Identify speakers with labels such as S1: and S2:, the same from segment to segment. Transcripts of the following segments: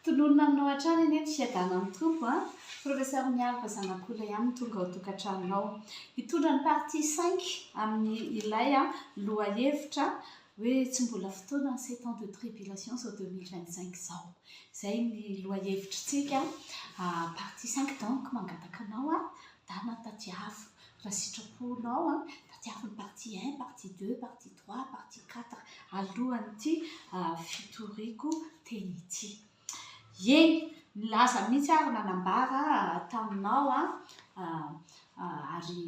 S1: Tononina aminao hatrany anie ny fiadanana amin'ny Tompo a! Professeur Mialy fa zanak'olona ihany no tonga ao tokantranonao. Hitondra ny partie cinq amin'ny ilay lohahevitra hoe tsy mbola fotoana ny sept ans de tribulation izao deux mille vingt cinq izao. Izay ny lohahevitritsika partie cinq donc mangataka anao a! Dana tadiavo raha sitraponao an! Tadiavo ny partie un, partie deux, partie trois, partie quatre alohan'ity fitoriako teny ity. Eny, nilaza mihitsy aho ary nanambara taminao ary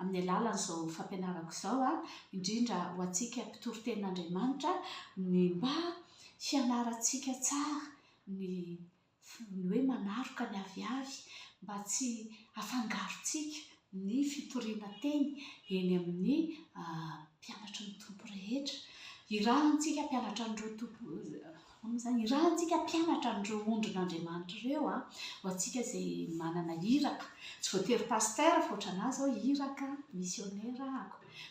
S1: amin'ny alalan'izao fampianarako izao, indrindra ho antsika mpitory tenin'Andriamanitra, ny mba hianarantsika tsara ny Tsy ny hoe manaroka ny aviavy mba tsy hafangarontsika ny fitoriana teny eny amin'ny mpianatry ny Tompo rehetra. Irahantsika mpianatra an'ireo Tompo, ahoana izany? Irahantsika mpianatra an'ireo ondrin'Andriamanitra ireo an! Ho antsika izay manana iraka, tsy voatery pasitera fa ohatranà izao iraka misionera an!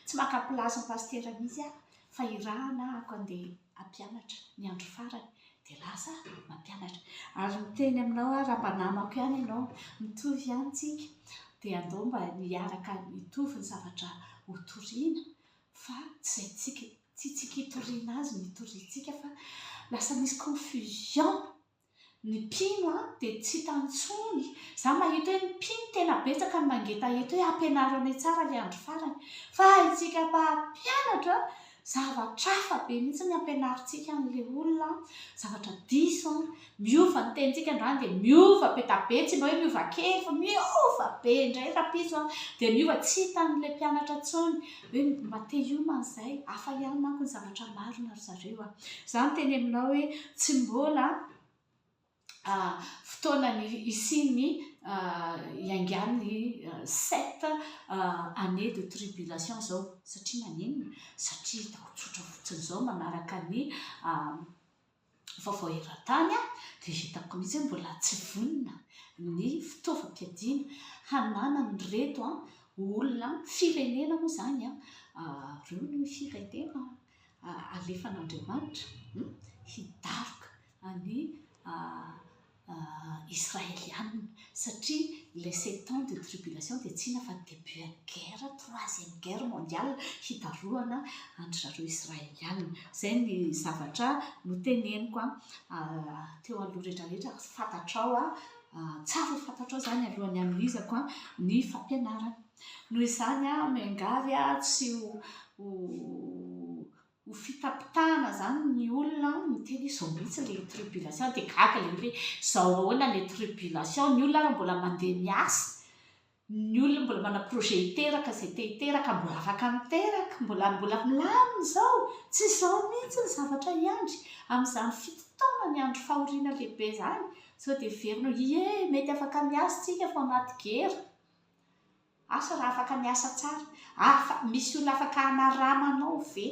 S1: Tsy maka place-n'ny pasitera mihitsy aho Fa irahana aho ka ndeha hampianatra, ny andro farany dia lasa aho mampianatra. Ary miteny aminao aho raha mba namako ihany ianao, mitovy ihany isika, dia andao mba hiaraka hitovy ny zavatra ho toriana, fa tsy izay tsy tsika hitoriana azy no hitoriantsika fa lasa misy confusion. Ny mpino an dia tsy hita intsony, za mahita hoe ny mpino tena betsaka no mangeta eto hoe ampianaro anay tsara le andro farany, fa antsika mpampianatra an, zavatra hafa be mihitsy ny ampianarintsika anle olona an, zavatra diso an, miova ny tenintsika androany dia miova be da be, tsy mba hoe miova kely fa miova be indray rapiso an, dia miova tsy hitanle mpianatra intsony hoe mba te hiomana izay, hafa ihany manko ny zavatra marina ry zareo a! Izaho miteny aminao hoe tsy mbola fotoana ny hisian'ny hiaingan'ny sept années de tribulation izao. Satria maninona? Satria ataoko tsotra fotsiny izao manaraka ny vaovao eran-tany dia hitako mihitsy hoe mbola tsy vonona ny fitaovam-piadiana hananan'ireto olona, firenena moa izany, ireo no firenena alefan'Andriamanitra hidaroka ny Israelianina satria ilay sept ans de tribulation dia tsy inona fa début an'ny guerre, troisième guerre mondiale hitarohana an-dry zareo Israelianina. Izay ny zavatra noteneniko teo aloha rehetrarehetra, fantatrao, tsara ho fantatrao izany alohan'ny hanohizako ny fampianarana. Noho izany miangavy tsy ho ho fitapitahana zany ny olona miteny hoe zao mihitsy le tribulation de gaga le hoe zao ahoana le tribulation ny olona ary mbola mandeha miasa ny olona mbola manana projet hiteraka izay te hiteraka mbola afaka miteraka mbola mbola milamina izao tsy zao mihitsy ny zavatra hiandry amin'izany fito taona ny andro fahoriana lehibe zany sao de heverina hoe ie mety afaka miasa tsika fa anaty gera Asa raha afaka miasa tsara. Afa, misy olona afaka hanarama anao ve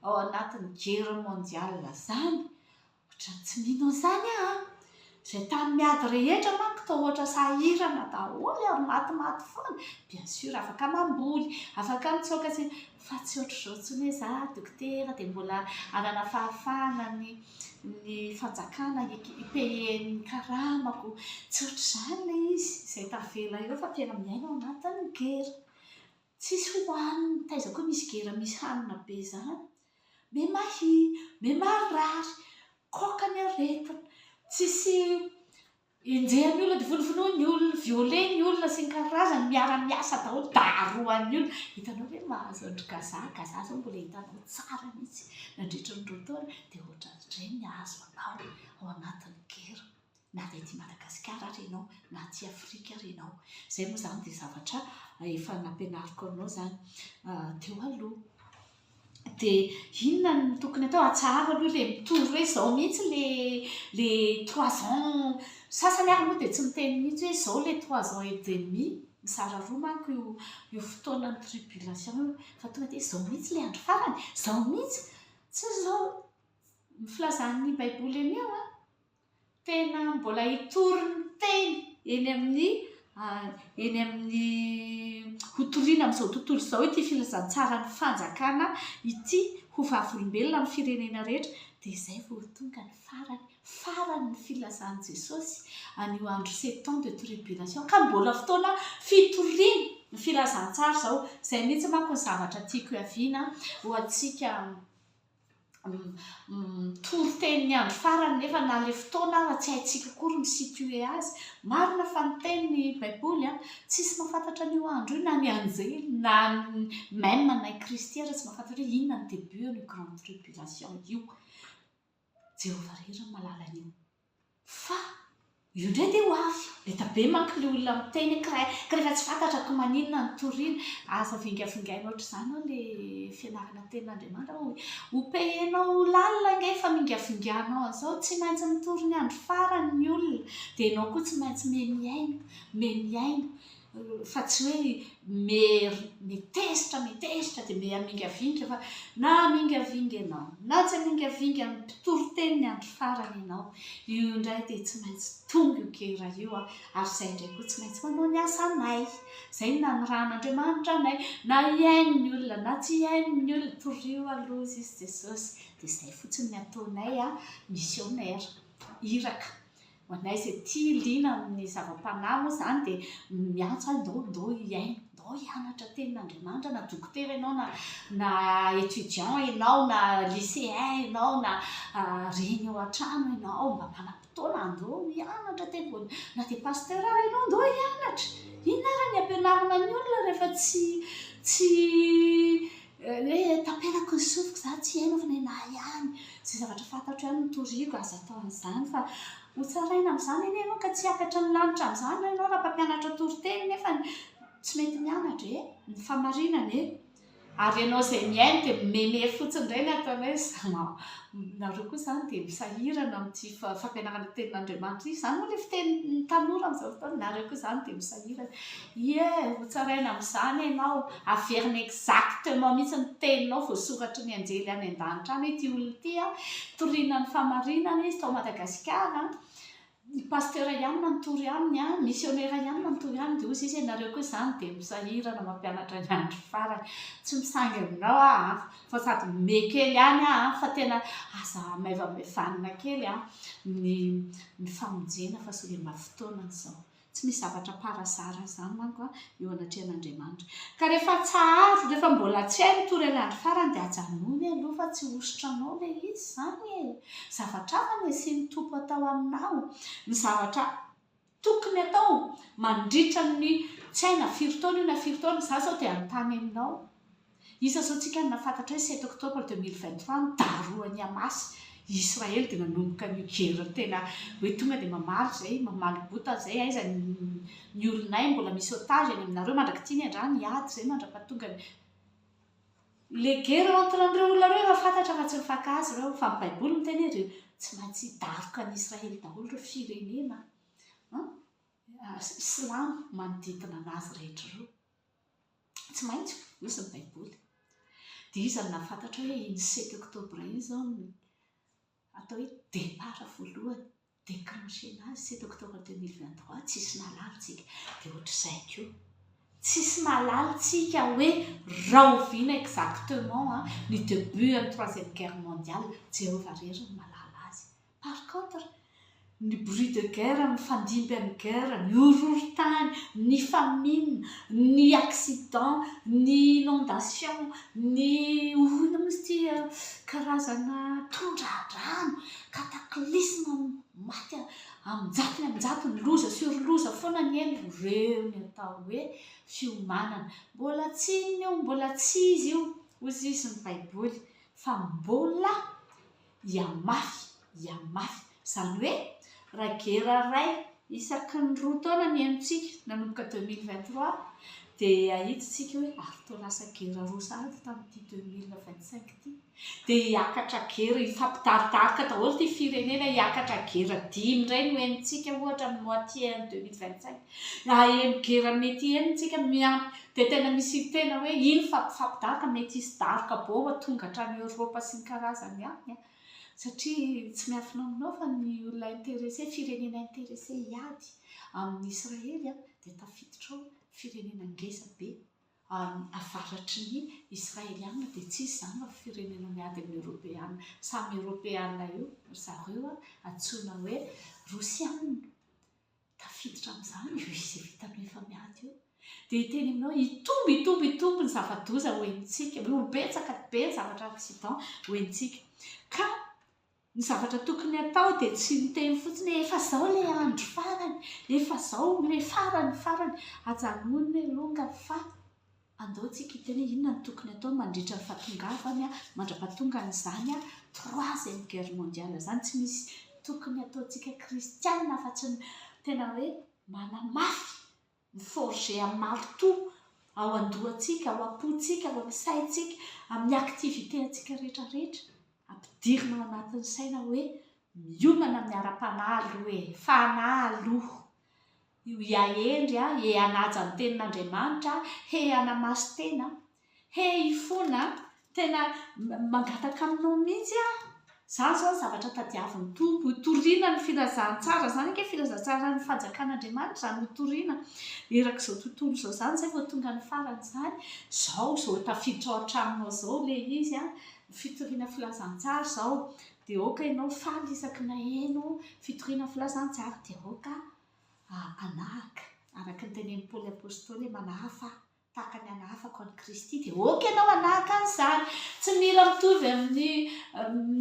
S1: ao anatin'ny guerre mondiale izany? Ohatran'ny tsy mino an'izany aho an! Izay tany miady rehetra manko toa ohatra sahirana daholo ary matimaty foana. Bien sûr, afaka mamboly, afaka mitsaoka sy ny. fa tsy ohatr'izao intsony hoe za dokotera dia mbola hanana fahafahana ny ny fanjakana hi-payer ny karamako, tsy ohatr'izany ilay izy izay tavela eo fa tena miaina ao anatin'ny gera, tsisy hohanina, taiza koa misy gera misy hanina be izany, be mahia, be marary, koa ka ny aretina, tsisy Enjehan'ny olona divonivinoy ny olona, violer ny olona sy ny karazany, miara miasa daholo, darohan'ny olona. Hitanao ve ny mahazo an-dry Gaza, Gaza zao mbola hitanao tsara mihitsy nandritra ny roa taona dia ohatran'izay ny hahazo anao ao anatin'ny gera na dia aty Madagasikara ary ianao na aty Afrika ary ianao. Izay moa izany dia zavatra efa nampianariko anao izany teo aloha. dia inona no tokony atao? Atsaharo aloha ilay mitory hoe izao mihitsy ilay ilay trois ans, sasany ary moa dia tsy miteny mihitsy hoe izao ilay trois ans et demi, mizara roa manko io io fotoanan'ny tribulation io, fa tonga dia hoe izao mihitsy ilay andro farany, izao mihitsy, tsy izao filazan'ny baiboly anio an! Tena mbola hitory ny teny eny amin'ny eny amin'ny hotorina amin'izao tontolo izao ity filazantsaran'ny fanjakana ity ho vavolombelona amin'ny firenena rehetra dia izay vao tonga ny farany farany ny filazan'i Jesosy an'io andro sept temps de tribulation ka mbola fotoana fitoriana ny filazantsara izao izay mihitsy manko ny zavatra tiako hiaviana ho antsika toriteny ny andro farany nefa na ilay fotoana aza tsy haintsika akory mi situer azy, marina fa niteny ny baiboly an, tsisy mahafantatra an'io andro io na ny anjely na ny même na i kristy aza tsy mahafantatra hoe inona ny début an'io grande tribulation io, Jehovah irery no mahalala an'io Fa io ndray dia ho avy. Leta be manko le olona miteny ka rehefa tsy fantatra ko maninona no toriana. Aza vingavingaina ohatr'izany hoy le fianarana tenin'Andriamanitra hoe ho payer-nao ho lalina ange efa mingavinganao an'izao, tsy maintsy mitory ny andro farany ny olona dia ianao koa tsy maintsy memiaina, memiaina. fa tsy hoe mery mitezitra mitezitra dia mihamingavinga fa na hamingavinga ianao na tsy hamingavinga ny mpitory teny ny andro farany ianao io indray dia tsy maintsy tonga io gera io a ary izay indray koa tsy maintsy manao ny asanay izay ny nanirahan'Andriamanitra anay na hihaino ny olona na tsy hihaino ny olona torio aloha izy izy Jesosy dia izay fotsiny ny ataonay a missionnaire iraka Ho anay izay tia liana amin'ny zava-panahy moa izany dia miantso ahy ndao ndao hihaino, ndao hianatra tenin'Andriamanitra na dokotera ianao na na étudiant ianao na lycéen ianao na reny ao an-trano ianao mba manam-potoana andao hianatra teny voa na dia pasteur ary ianao ndao hianatra, inona ary ny ampianarina ny olona rehefa tsy tsy Hoe taperako ny sofiko za tsy haino fa nenah ihany ze zavatra fantatro ihany no toriako aza atao an'izany fa ho tsaraina amin'izany anie ianao ka tsy hiakatra ny lanitra amin'izany ve ianao raha mpampianatra toriteny nefany tsy mety mianatra e! ny fahamarinana e! ary ianao izay mihaino dia mimemehy fotsiny indray ny ataonao hoe zalahy nareo koa izany dia misahirana amin'ity fampianarana ny tenin'Andriamanitra ity, izany moa ilay fitenin'ny tanora amin'izao fotoana, nareo koa izany dia misahirana Ie, ho tsaraina amin'izany ianao, averina exactement mihitsy ny teninao voasoratry ny anjely any an-danitra any, ity olona ity an, toriana ny fahamarinana izy tao Madagasikara an, ny pasteur ihany manotory aminy an, misionera ihany manotory aminy, dia hoy Zeus ianareo koa izany dia misahirana mampianatra ny andro farany, tsy misangy aminao aho an, fa sady mihomehy kely ihany aho an, fa tena aza maivamaivanina kely an, ny famonjena fa solema fotoana izao. Tsy misy zavatra parazara izany manko an, eo anatrehan'Andriamanitra. Ka rehefa tsaharo, rehefa mbola tsy hay mitory ilay andro farany dia ajanony aloha fa tsy hosotra anao ilay izy izany e! Zavatra hafa no hisian'ny Tompo atao aminao. Ny zavatra tokony atao mandritra ny tsy hay na firy taona io na firy taona, izaho izao dia hanontany aminao. Isa zao tsika no nafantatra hoe sept octobre deux mille vingt trois no darohan'ny Hamas i Israely dia nanomboka an'io guerre tena hoe tonga dia mamaly izay mamaly bota izay aiza ny olonay mbola misy otage any aminareo mandrak'ity ny andrano hiady izay mandrapatongan'ny le guerre entre an'ireo olona ireo efa fantatra fa tsy mifaka azy ireo fa ny baiboly miteny hoe tsy maintsy hidaroka an'i Israely daholo ireo firenena silamo manodidina an'azy rehetra ireo Tsy maintsy fonosy ny Baiboly. Dia iza no nahafantatra hoe iny sept octobre iny izao no atao hoe départ voalohany, déclenchena azy, sept octobre deux mille vingt trois? Tsy nisy nahalala isika. Dia hoatr'izay koa. Tsy nisy nahalala isika hoe rahoviana exactement ny début an'ny troisième guerre mondiale. Jehovah irery no mahalala azy. Par contre, ny bruit de guerre mifandimby amin'ny guerre, ny horohorontany, ny famine, ny accident, ny inondation, ny hoana moa izy ity an, karazana tondradrano, cataclysme, maty amin-jatony amin-jatony, loza sur loza foana anie no ireo ny atao hoe fiomanana. Mbola tsy inona io, mbola tsy izy io, hoy izy ny Baiboly, fa mbola Ia mafy, ia mafy. Izany hoe, raha gera iray isaky ny roa taona ny henontsika, nanomboka 2023, dia hahitsitsika hoe ary toa lasa gera roa sahady tamin'ity 2025 ity. Dia hiakatra gera, hifampidaridarika daholo ity firenena, hiakatra gera dimy indray no henontsika, ohatra, amin'ny moitié an'ny 2025. Raha heno gera mety heno tsika miampy dia tena misy tena hoe iny fampifapidahaka mety hisy daroka baomba tonga hatrany Europe sy ny karazany any a! satria tsy miafinaofinao fa ny olona interesse firenena interesse hiady amin'i Israely a! dia tafiditra ao firenena ngeza be any avaratry ny Israeliana dia tsy hisy izany fa firenena miady amin'ny Europeana samy Europeana io ry zareo a! antsoina hoe Rosiana Tafiditra amin'izany io izy vita amin'ny efa miady io. Dia hiteny aminao, hitombo, hitombo, hitombo ny zava-doza ho henontsika. Ho betsaka be ny zavatra accident ho henontsika. Ka ny zavatra tokony hatao dia tsy miteny fotsiny hoe efa izao ilay andro farany, efa izao ilay farany farany. Ajanony ny alongany fa. Andao tsika hiteny hoe inona no tokony atao mandritra ny fahatongavany mandra-pahatongany izany troisième guerre mondiale izany. Tsy misy tokony ataontsika kristiana afa-tsy ny tena hoe manamafy, mi-forger amin'ny marotoa ao an-dohantsika, ao am-pontsika, ao amin'ny saintsika, amin'ny activité antsika rehetra rehetra. Ampidirina ao anatin'ny saina hoe miomana amin'ny ara-panahy aloha e! Fanahy aloha! Io ia Hendry a, he hanaja ny tenin'Andriamanitra a, he hanamaso tena a, he hifona a, tena mangataka aminao mihitsy aho. Izany izao ny zavatra tadiavin'ny Tompo, hotorina ny filazantsara, izany ange filazantsaran'ny fanjakan'Andriamanitra izany, hotorina erak'izao tontolo izao izany, izay vao tonga ny farany izany, izao izao tafiditra ao an-tranonao izao ilay izy a, fitoriana filazantsara izao, dia aoka ianao faly isaky ny naheno fitoriana filazantsara, dia aoka. Hanahaka, araka ny tenenin'i Paoly Apostoly, manahafa ahy tahaka ny anahafako an'i Kristy, dia ok ianao hanahaka an'izany. Tsy mila mitovy amin'ny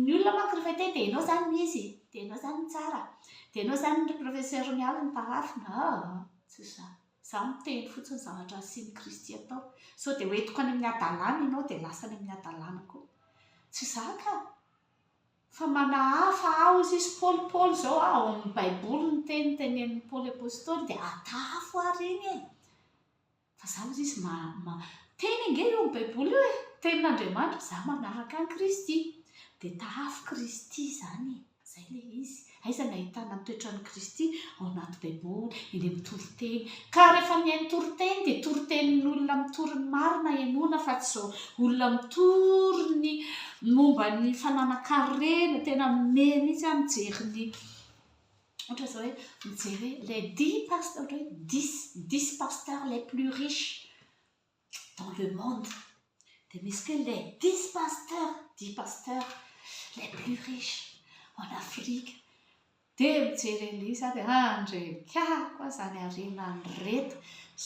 S1: ny olona manko rehefa hiteny dia ianao izany no izy, dia ianao izany no tsara, dia ianao izany ry professeur miala ny tarafina, aa, tsy izany. Izaho miteny fotsiny ny zavatra nasian'i Kristy atao. Sao dia ho entiko any amin'ny hadalana ianao dia lasa any amin'ny hadalana koa. Tsy izaho ka! Fa manahafa aho izy izy Paoly Paoly izao ao amin'ny baiboly ny teny tenenin'i Paoly apostoly dia atahafo ary iny e! fa za ozy izy teny ange eo amin'ny baiboly eo e! tenin'Andriamanitra za manahaka an'i Kristy dia tahafo Kristy izany e! izay ilay izy Aiza no ahitana ny toetran'i Kristy ao anaty Baiboly? Eny amin'ny toriteny. Ka rehefa mihaino toriteny dia toritenin'olona mitory ny marina henoina fa tsy izao olona mitory ny momba ny fananan-karena, tena me mihitsy aho mijery ny ohatra izao hoe mijery hoe les dix pasteurs, ohatra hoe dix, dix pasteurs les plus riches. dans le monde dia misy koa les dix pasteurs dix pasteurs les plus riches en Afrique dia mijery an'ilay izy dia ah ndry kah koa izany harena an'ireto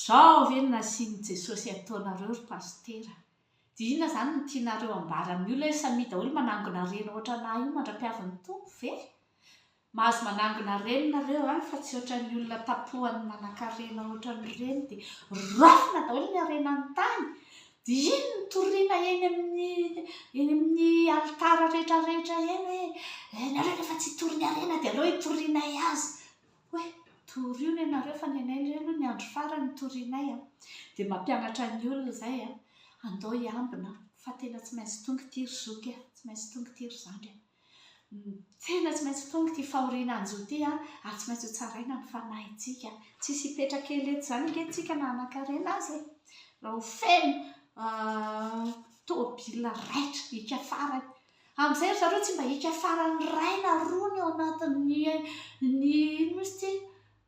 S1: zao ve no nasian'i Jesosy ataonareo ry pasitera dia inona izany no tianareo ambara amin'ny olona hoe samia daholo manangona harena ohatranà io mandra-piavin'ny Tompo ve Mahazo manangona reny nareo a, fa tsy ohatran'ny olona tapohan'ny manankarena ohatran'ny ireny dia raofina daholo ny harenan'ny tany, dia iny no toriana eny amin'ny eny amin'ny alitara rehetra rehetra eny hoe ianareo rehefa tsy hitory ny harena dia aleo hitorianay azy, hoe torio re nareo fa ny anay indray aloha ny andro farany no torianay a, dia mampianatra ny olona izay a, andao hiambina fa tena tsy maintsy tonga ity ry zoky a, tsy maintsy tonga ity ry zandry a. Tena tsy maintsy tonga ity fahoriana hanjo ity ary tsy maintsy hotsaraina ny fanahintsika. Tsy hisy hipetraka ela eto izany ange isika na hanankarena aza e! Raha ho feno tomobilina raitra hiaka farany. Amin'izay ry zareo tsy mba hiaka farany iray na roa ny ao anatin'ny inona moa izy ity,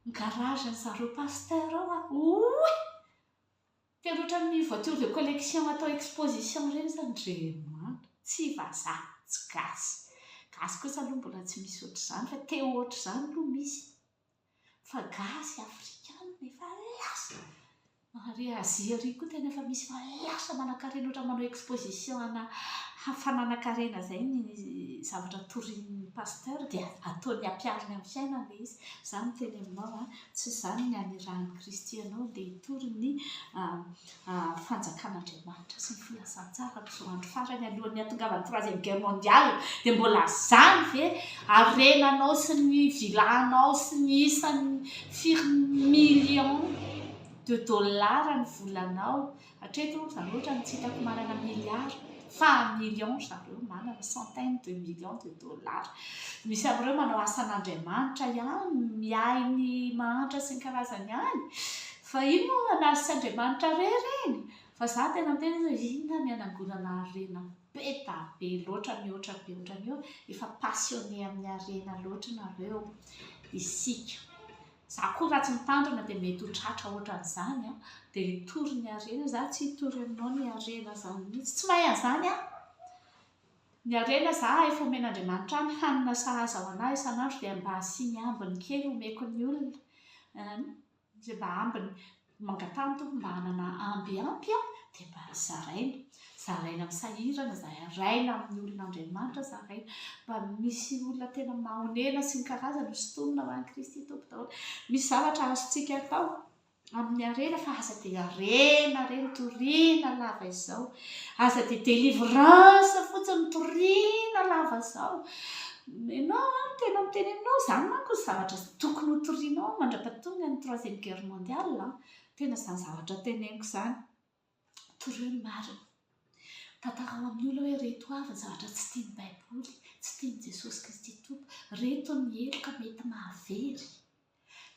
S1: ny garage-n'i zareo pasitera ao an! Oiy! Tena ohatran'ny voiture de collection atao exposition ireny zany ry mama. Tsy vazaha, tsy gasy. Gasy kosa aloha mbola tsy misy ohatr'izany fa te ho ohatr'izany aloha misy. Fa gasy afrikanina efa lasa. Ary Azia ary koa tena efa misy fa lasa manankarena ohatran'ny manao exposition ana fananankarena izay ny zavatra torian'ny pasteur dia ataony ampihariny amin'ny fiainany ilay izy. Izany no teny aminao an. Tsy izany ny anirahan'i Kristy ianao dia hitory ny Fanjakan'Andriamanitra sy ny filazantsara amin'izao andro farany alohan'ny hatongavan'ny Troisième Guerre Mondiale dia mbola izany ve harenanao sy ny vilanao sy ny isan'ny firy millions de dollars ny volanao Hatreto za loatra no tsy hitako manana milliards fa millions ry zareo manana centaines de millions de dollars. Misy amin'ireo manao asan'Andriamanitra ihany, miahy ny mahantra sy ny karazany any fa ino moa na tsy Andriamanitra re ireny? Fa za tena miteny hoe inona ny hanangonana harena be da be loatra mihoatra be ohatran'io? Efa passionné amin'ny harena loatra nareo isika Za koa raha tsy mitandrina dia mety ho tratra ohatran'izany an! Dia hitory ny harena za tsy hitory aminao ny harena zany mihitsy, tsy mahay an'izany aho! Ny harena za efa omen'Andriamanitra any, hanina sahaza ho anah isan'andro dia mba asiany ambiny kely omeko ny olona, an! izay mba ambiny. Mangataha ny Tompo mba hanana amby ampy aho dia mba zaraina. Zaraina amin'ny sahirana, zaraina amin'ny olona Andriamanitra, zaraina mba misy olona tena mahonena sy ny karazany ho sintonina ho an'i Kristy Tompo daholo. Misy zavatra azontsika atao amin'ny harena fa aza dia harena re ny toriana lava izao. Aza dia délivrance fotsiny ny toriana lava izao. Ianao an, tena miteny aminao, izany manko ny zavatra Tokony ho torianao mandra-pahatonga ny troisième guerre mondiale an! Tena izany zavatra teneniko izany. Torio ny marina. Tantarao amin'ny olona hoe ireto avy ny zavatra tsy tian'ny Baiboly, tsy tian'i Jesosy Kristy Tompo. Ireto ny heloka mety mahavery.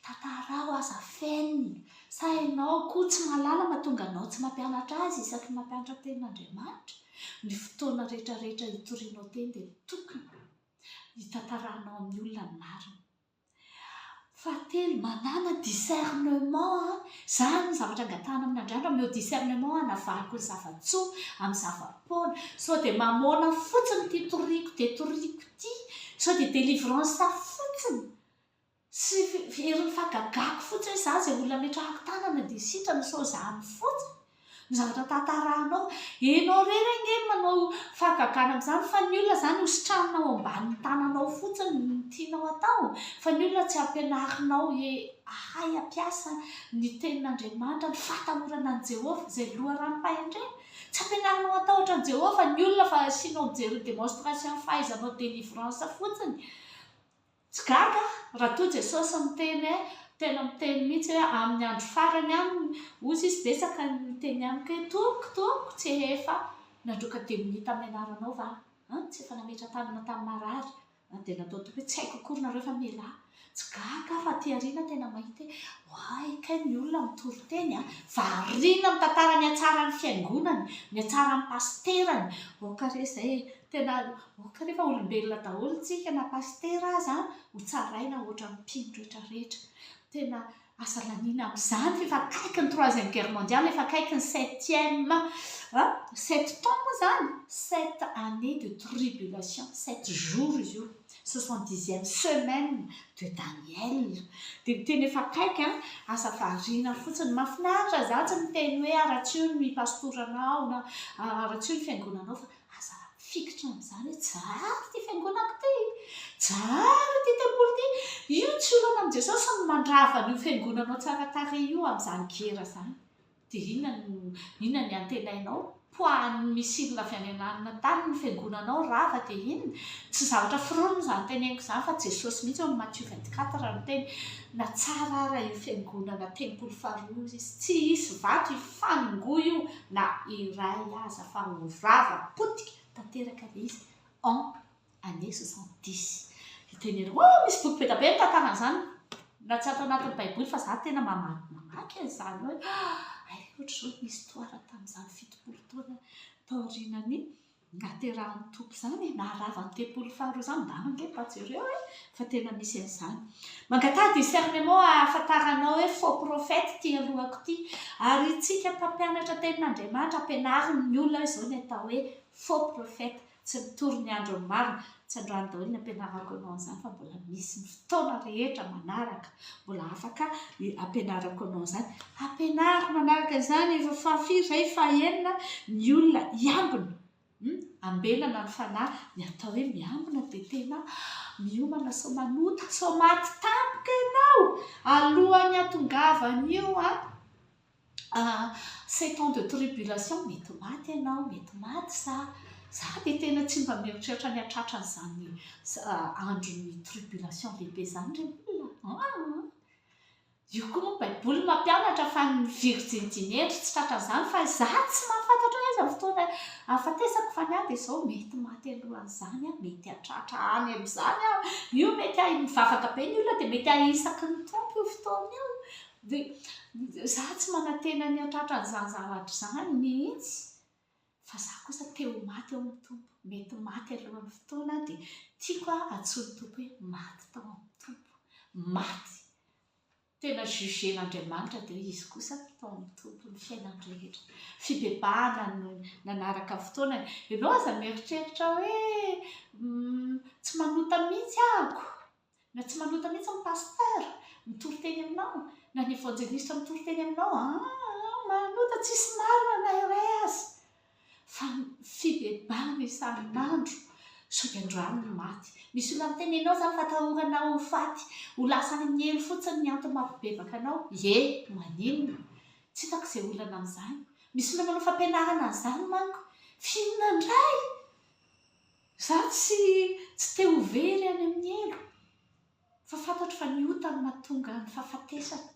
S1: Tantarao, aza fenina. Sa ianao koa tsy mahalala mahatonga anao tsy mampianatra azy isaky ny mampianatra ny tenin'Andriamanitra? Ny fotoana rehetrarehetra itorianao teny dia tokony. hitantarahanao amin'ny olona ny marina. Fahatelo, manàna discernement, izany ny zavatra angatahana amin'Andrianitra, omeo discernement hanavahako ny zava-tsoa amin'ny zava-poana, sao dia mamoana fotsiny ity toriako dia toriako ity, sao dia délivrance fotsiny Tsy herin'ny fagagako fotsiny hoe za zay olona ametrahako tanana dia sitrana sao zany fotsiny no zavatra tantarahanao. Enao rery ange no manao fagagana amin'izany fa ny olona zany hositranina ao ambanin'ny tananao fotsiny no tianao atao fa ny olona tsy ampianarinao he ahay ampiasa ny tenin'Andriamanitra, ny fahatahorana an'i Jehovah izay loharanom-pahendrena. Tsy ampianarinao hatahotra an'i Jehovah ny olona fa asianao mijery ny démonstration fahaizanao délivrance fotsiny. Tsy gaga raha toa Jesosy miteny hoe tena miteny mihitsy hoe amin'ny andro farany any ozy izy betsaka ny miteny amiko hoe tompoko tompoko tsy ehefa nandroaka demonia tamin'ny anaranao va an tsy efa nametra tanana tamin'ny marary an dia natao tompoko hoe tsy haiko akory nareo fa mialà tsy gaga aho fa aty aoriana tena mahita hoe oay kay ny olona mitory teny an variana mitantara ny hatsaran'ny fiangonany ny hatsaran'ny pasiterany aoka re izay tena Oh kanefa olombelona daholo tsika na pasitera aza ho tsaraina ohatran'ny mpino rehetra rehetra. Tena aza laniana amin'izany fa efa akaiky ny troisième guerre mondiale, efa akaiky ny septième an! sept temps moa izany? sept années de tribulation, sept jours izy io, soixante dixième semaine de Daniel. Dia ny tena efa akaiky an! aza variana fotsiny. Mahafinaritra zany tsy miteny hoe aratsio ny pastoranao na aratsio ny fiangonanao fa Aza mifikitra amin'izany hoe Jaharo ity fiangonako ity, Jaharo ity tempoly ity. Io tsy olana amin'i Jesosy ny mandrava an'io fiangonanao tsara tarehy io amin'izany gera izany. Dia inona no, inona ny antenainao? Poahan'ny missile avy any ananona tany ny fiangonanao rava dia inona? Tsy zavatra foronina izany teneniko izany fa Jesosy mihitsy ao amin'ny Matthieu 24 no niteny, na tsara ara io fiangonana tempoly faharoa io izy, tsy hisy vato hifanongoa io, na iray aza fa ho rava potika tanteraka ilay izy en année soixante dix dia tena hoe misy boky be dia be mitantara an'izany na tsy ato anatin'ny baiboly fa za tena mamaky mamaky an'izany hoe hay ohatr'izao ny histoire tamin'izany fitopolo taona taorianan'ny Naterahan'ny Tompo izany e, naharava ny tempoly faharoa izany, ndana ange mba jereo e, fa tena misy an'izany. Mangataha discernement ahafantara anao hoe faux prophète ity alohako ity, ary itsika mpampianatra tenin'Andriamanitra ampianariny ny olona izao ny atao hoe faux prophète, tsy mitory ny andron'ny marina, Tsandrano daholo ny ampianarako anao an'izany fa mbola misy ny fotoana rehetra manaraka mbola afaka ampianarako anao an'izany. Ampianariko manaraka izany ireo fahafiry, iray, fahenina ny olona hiambina. Hmm? Ambenana ny fanahy, ny atao hoe miambina dia tena miomana sao manota, sao maty tampoka ianao alohan'ny hatongavan'io an. sept ans de tribulation mety maty ianao, mety maty za, za dia tena tsy mba mieritreritra ny hahatratra an'izany andron'ny tribulation lehibe izany ry olona a, an, io koa moa baiboly mampianatra fa ny virjinity mendry tsy tratra an'izany fa za tsy mahafantatra hoe aiza ny fotoana ahafatesako fa ny ahy dia izao mety maty alohan'izany aho, mety hahatratra any amin'izany aho, io mety ahi- mivavaka be ny olona dia mety ahisaky ny Tompo io fotoana io Dia izaho tsy manantena ny hahatratra an'izany zavatra izany mihitsy, fa izaho kosa te ho maty ao amin'ny Tompo. Mety maty alohan'ny fotoana aho, dia tiako hahantsoin'ny Tompo hoe, Maty tao amin'ny Tompo. Maty! Tena jugen'Andriamanitra dia hoe izy kosa tao amin'ny Tompo ny fiainany rehetra. Fibebahana no nanaraka ny fotoana. Ianao aza mieritreritra hoe, tsy manota mihitsy aho. Na tsy manota mihitsy ny pasteur mitory teny aminao na ny evanjelistra mitory teny aminao aa manota tsisy marina na iray aza fa ny fibebahana isarin'andro sao dia andrano ny maty misy olona miteny ianao zany fa atahorana ho faty ho lasa any amin'ny helo fotsiny ny antony mampibebaka anao ye maninona tsy hitako izay olana amin'izany misy olona manao fampianarana an'izany manko f'inona indray Izaho tsy tsy te ho very any amin'ny helo, fa fantatro fa ny ota no mahatonga ny fahafatesana,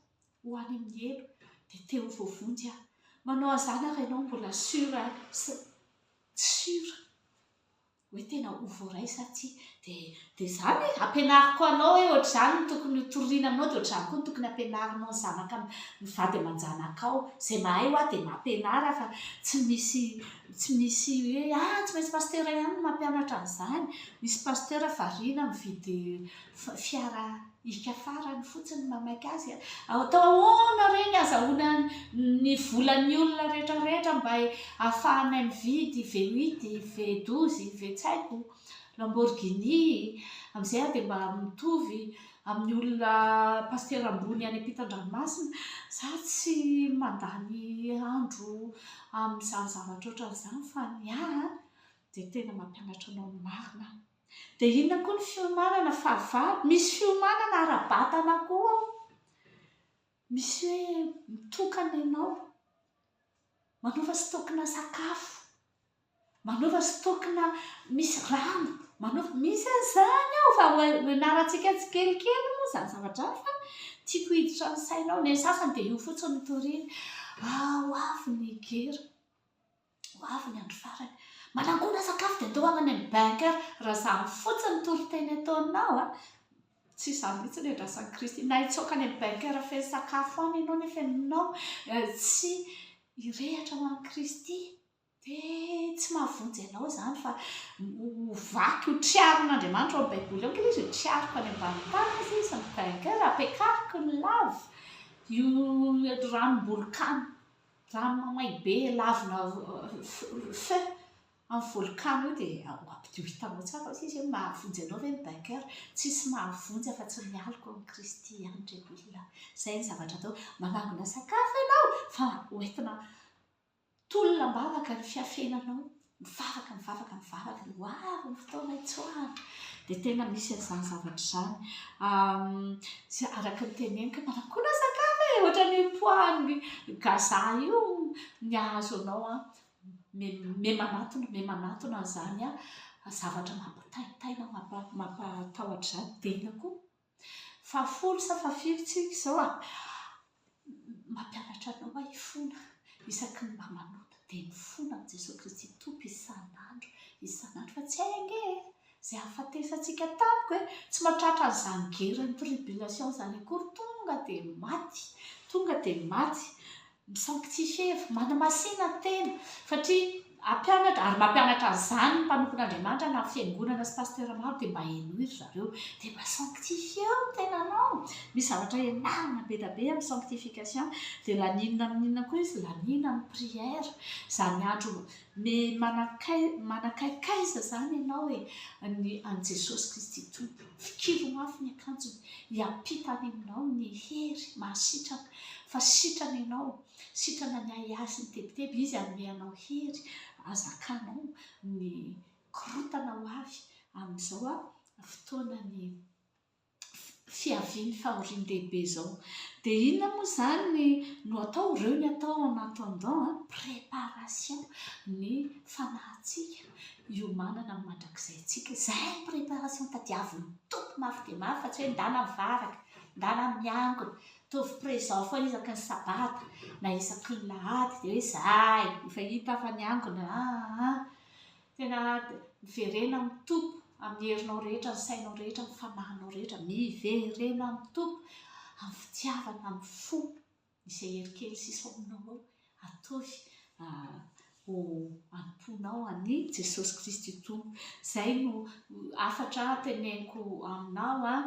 S1: ho any amin'ny helo dia te ho voavonjy aho, manao an'izany ary ianao mbola sur a sa tsy sur hoe tena ho voaray sa tsia, dia dia izany e, ampianariko anao hoe ohatr'izany no tokony ho toriana aminao dia ohatr'izany koa no tokony hampianarinao ny zanaka ny vady aman-janakao, izay mahay hoa dia mampianara fa tsy misy Tsy misy hoe ah tsy maintsy pasitera ihany no mampianatra an'izany, misy pasitera variana mividy fiara hikafarany fotsiny mamaika azy a! atao ahoana re ny hazahoana ny volan'ny olona rehetra rehetra mba hahafahanay mividy V huit, V douze, V tsy haiko, Lamborghini, amin'izay aho dia mba mitovy amin'ny olona pasitera ambony any am-pitan-dranomasina za tsy mandany andro amin'izany zavatra ohatran'izany fa ny ahy dia tena mampianatra anao ny marina aho dia inona koa ny fiomanana fahavalo misy fiomanana ara-batana koa misy hoe mitokana ianao manaova stock-na sakafo Manaova stock-na misy rano, manaova, misy an'izany ao fa ianarantsika tsikelikely moa izany zavatra izany fa tiako hiditra ny sainao, ny an'ny sasany dia io fotsiny no toriany, ho avy ny gera, ho avy ny andro farany, manangona sakafo dia ataovy any amin'ny bunker, raha izany fotsiny toriteny ataonao an, tsy izany mihintsy ny andrasan'i Kristy, na hitsoaka any amin'ny bunker feno sakafo any ianao nefa ianao tsy hirehitra ho an'i Kristy. Dia tsy mahavonjy anao izany fa ho vaky ho triarin'Andriamanitra ao amin'ny Baiboly ao ankilay izy, ho triariko any ambanin'ny tany izy, izy ny vainqueur, hapiakariko ny lava, io ranom-bolokano, rano mamay be lavina feu amin'ny volokano io dia ho ampidio hitanao tsara ao izy hoe mahavonjy anao ve ny Bainkera? Tsisy mahavonjy afa-tsy ny aloka ao amin'i Kristy ihany ry olona. Izay no zavatra atao. Manangona sakafo ianao fa ho entina Tolona am-bavaka ny fiafenanao, mivavaka, mivavaka, mivavaka, dia ho avy ny fotoana hitsoahana, dia tena misy an'izany zavatra izany. Izay araka ny teneniko, manakoana sakafo e! Ohatra ny poids-n'ny Gaza io, ny hahazo anao, me manatona, me manatona an'izany zavatra mampitaintaina, mampatahotra izany, dia inona koa? Fahafolo sa fahafiry tsika izao a? Mampianatra anao aho hifona, isaky ny mba manota dia mifona amin'i Jesoa Kristy Tompo isan'andro isan'andro fa tsy hay ange e! izay hahafatesantsika tamiko e! tsy mahatratra an'izany geran'ny tribulation izany akory tonga dia maty, tonga dia maty Misanctifier, manamasina ny tena, satria hampianatra, ary mampianatra an'izany ny mpanompon'Andriamanitra na fiangonana sy pasteur maro dia mba henoy ry zareo, dia mba sanctifier ny tenanao, misy zavatra ianarana be dia be amin'ny sanctification, dia laninina amin'inona koa izy, laninina amin'ny prière, izany andro Ny manakai manakaikaiza izany ianao e, ny an'i Jesosy Kristy Tompo. Fikiro mafy ny akanjony, hiampita any aminao ny hery mahasitrana, fa sitrana ianao, sitrana ny ahiahy sy ny tebiteby, Izy hanome anao hery hazakanao ny korontana ho avy amin'izao fotoana ny fiaviany fahorian-dehibe izao. Dia inona moa izany no atao? Ireo ny atao en attendant a! Préparation ny fanahintsika hiomanana amin'ny mandrakizaintsika. Izay ny préparation tadiavin'ny Tompo mafy dia mafy fa tsy hoe ndana mivaraka, ndana miangona, ataovy présent foana isaky ny sabata na isaky ny lahady dia hoe izahay efa hita fa niangona aa. Tena miverena amin'ny Tompo, amin'ny herinao rehetra, ny sainao rehetra, ny fanahinao rehetra. Miverena amin'ny Tompo, amin'ny fitiavana, amin'ny fo. Izay hery kely sisa ao aminao ao, ataovy ho anompoanao an'i Jesosy Kristy ho Tompo. Izay no hafatra teneniko aminao an.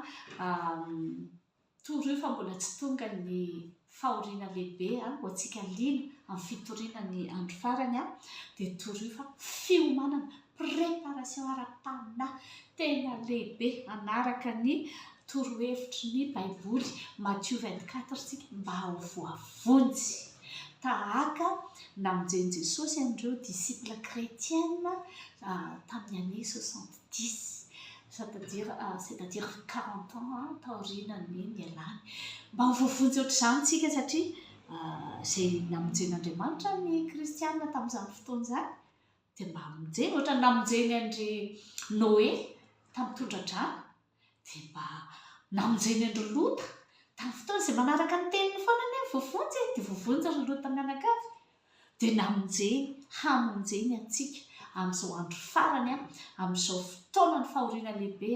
S1: Toro io fa mbola tsy tonga ny fahoriana lehibe ho antsika liana amin'ny fitoriana ny andro farany dia toro io fa fiomanana, préparation ara-panahy tena lehibe hanaraka ny torohevitry ny baiboly Matthieu vingt quatre tsika mba ho voavonjy tahaka namonjen'i Jesosy an'ireo disciples chretiens tamin'ny année soixante dix, c'est-à-dire, c'est-à-dire quarante ans taorianan'ny nialany. Mba ho voavonjy ohatr'izany isika satria izay namonjen'Andriamanitra ny kristiana tamin'izany fotoana izany dia mba hamonjeny, ohatrany namonjeny an-dry Noe tamin'ny tondra-drano, dia mba namonjeny an-dry Lota tamin'ny fotoana izay manaraka ny teniny foana anie ny voavonjy e, dia voavonjy ry Lota mianakavy. dia namonjeny, hamonjeny antsika amin'izao andro farany, amin'izao fotoanan'ny fahoriana lehibe,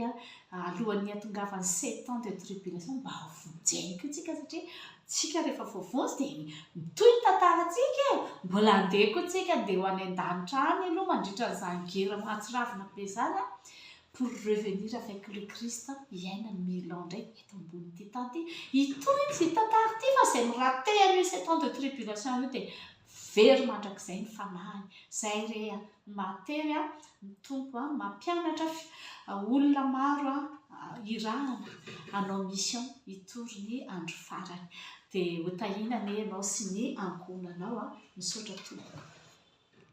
S1: alohan'ny hiatongavan'ny sept ans de tribulation, mba hovonjeny koa tsika satria tsika rehefa voavonjy dia mitohy ny tantarantsika e! mbola handeha koa tsika, handeha ho any an-danitra any aloha mandritra an'izany guerre mahatsiravina be izany, pour revenir avec le Christ hiaina ny mille ans indray eto ambonin'ity tany ity, hitohy ity tantara ity fa izay mi-rater an'io sept ans de tribulation io dia very mandrakizay ny fanahiny, izay re a, ny mahatery a, ny Tompo a, ny mampianatra olona maro a, hirahana hanao mission hitory ny andro farany, dia ho tahiana anie ianao sy ny ankohonanao a, misaotra tompoko.